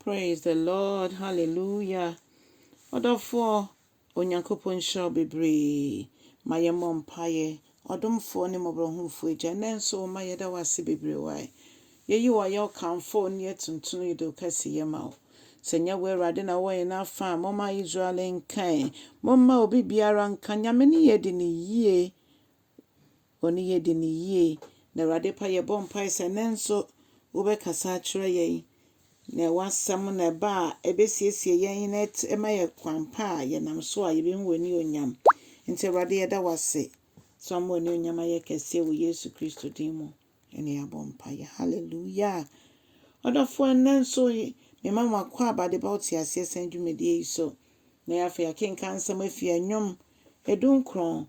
Praise the Lord hallelujah Ɔdɔfoɔ Onyankopɔn nhyira wo bebree Ma yɛn mmɔ mpaeɛ Ɔdomfoɔ ne mmɔborɔhunfoɔ Agya ɛnnɛ nso wo mma yɛda wo ase bebree Wai yɛyi wo ayɛ wo kamfo wo ne yɛ tuntum yɛde wo kɛse yɛ ma wo Sɛ nyɛ wo Awurade na wɔ yɛn afa a momma Israel nka ɛ Momma obi biara nka Nyame ne yɛ di no yie Wɔn ne yɛ di no yie. Na Awurade pa yɛbɔ mpae sɛ ɛnnɛ nso wobɛkasa akyerɛ yɛn, na w'asɛm na ɛba a ɛbɛsiesie yɛn na ɛma yɛ kwan pa a yɛnam so a yɛbɛhu w'anionyam. Nti Awurade yɛda w'ase sɛ wama w'anionyam ayɛ kɛseɛ wɔ Yesu Kristo din mu ne yɛabɔ mpaeɛ. Hallelujah! Ɔdɔfoɔ ɛnnɛ nso mema mo akɔ aba de ba ɔteaseɛ sɛn dwumadie yi so. Na yɛ afei akenkan nsɛm afiri ɛnwom ɛdu nkron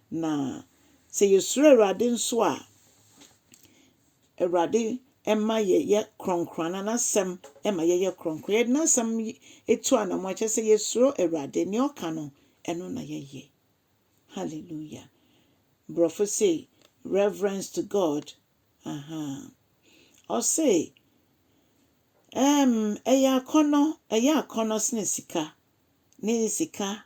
Na sɛ yɛsuro Awurade nso a, Awurade ma yɛyɛ kronkron, na n'asɛm ma yɛyɛ kronkron. Yɛde n'asɛm tu anammɔn, kyerɛ sɛ yɛsuro Awurade, nea ɔka no, ɛno na yɛyɛ. Hallelujah. Borɔfo se, reverence to God. Aha. Ɔse, um, ɛyɛ akɔnɔ, ɛyɛ akɔnɔ sene sika, ne sika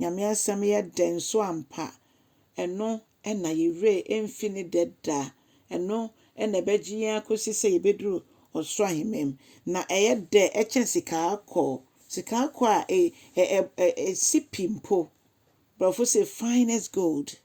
Nyame asɛm yɛ dɛ nso ampa, ɛno na yɛ werɛ remfi ne dɛ da, ɛno na ɛbɛgye yɛn akosi sɛ yɛbɛduru ɔsoro ahemman mu, na ɛyɛ dɛ kyɛn sikaakɔɔ, sikaakɔɔ a ɛsi pi mpo, brɔfo se finest gold.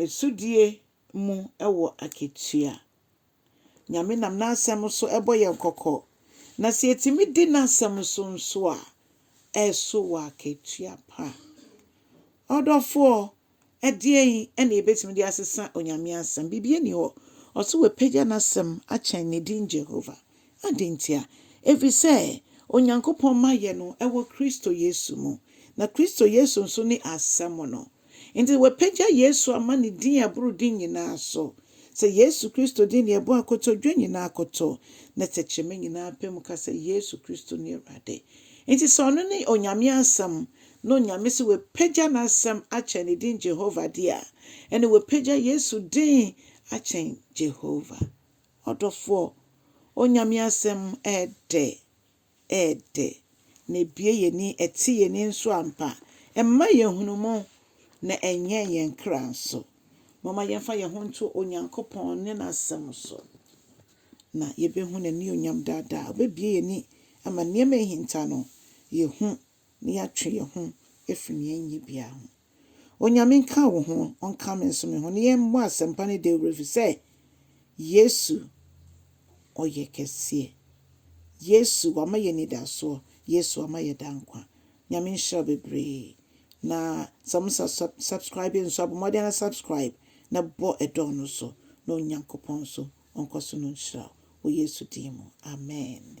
Asodie mu wɔ akatua. Nyame nam n'asɛm so bɔ yɛn kɔkɔ, na sɛ yɛtumi di n'asɛm so nso a, ɛso wɔ akatua pa. Ɔdɔfoɔ, ɛdeɛn na yɛbɛtumi de asesa Onyame asɛm? Biribi nni hɔ. Ɔse wapagya n'asɛm akyɛn ne din Jehovah. Adɛn ntia? Ɛfiri sɛ Onyankopɔn mma yɛ no wɔ Kristo Yesu mu, na Kristo Yesu nso ne Asɛm no. Enti wɔapagya Yesu ama ne din a ɛboro din nyinaa so, sɛ Yesu Kristo din deɛ ɛbɔ akotodwe nyinaa akoto, na tɛkyerɛma nyinaa apamu ka sɛ Yesu Kristo ne Awurade. Enti sɛ ɔno ne Onyame Asɛm, na Onyame se wapagya n'Asɛm akyɛn ne din Jehovah deɛ a, ɛnneɛ wapagya Yesu din akyɛn Jehovah. Ɔdɔfoɔ, Onyame asɛm ɛɛdɛ, ɛɛdɛ, na ɛbue y'ani, ɛte y'ani nso ampa, ɛma yɛhunu mo, na ɛnyɛn yɛn kra nso. Momma yɛmfa yɛn ho nto Onyankopɔn ne N'asɛm so, na yɛbɛhu N'anionyam daadaa. Ɔbɛbue y'ani ama nneɛma a ɛhinta no, yɛhu na yɛatwe yɛn ho afiri nea ɛnyɛ biara ho. Onyame nka wo ho, ɔnka me nso me ho, na yɛmmɔ asɛmpa no dawuro ɛfiri sɛ Yesu ɔyɛ kɛseɛ. Yesu wama yɛn anidasoɔ, Yesu ama yɛn daa nkwa. Nyame nhyira wo bebree. Na sɛ mo sa sub subscribe nso a, bɔ mmɔden ara subscribe na bɔ ɛdɔn no so na Onyankopɔn nso ɔnkɔ so no nhyira wo wɔ Yesu din mu, amen.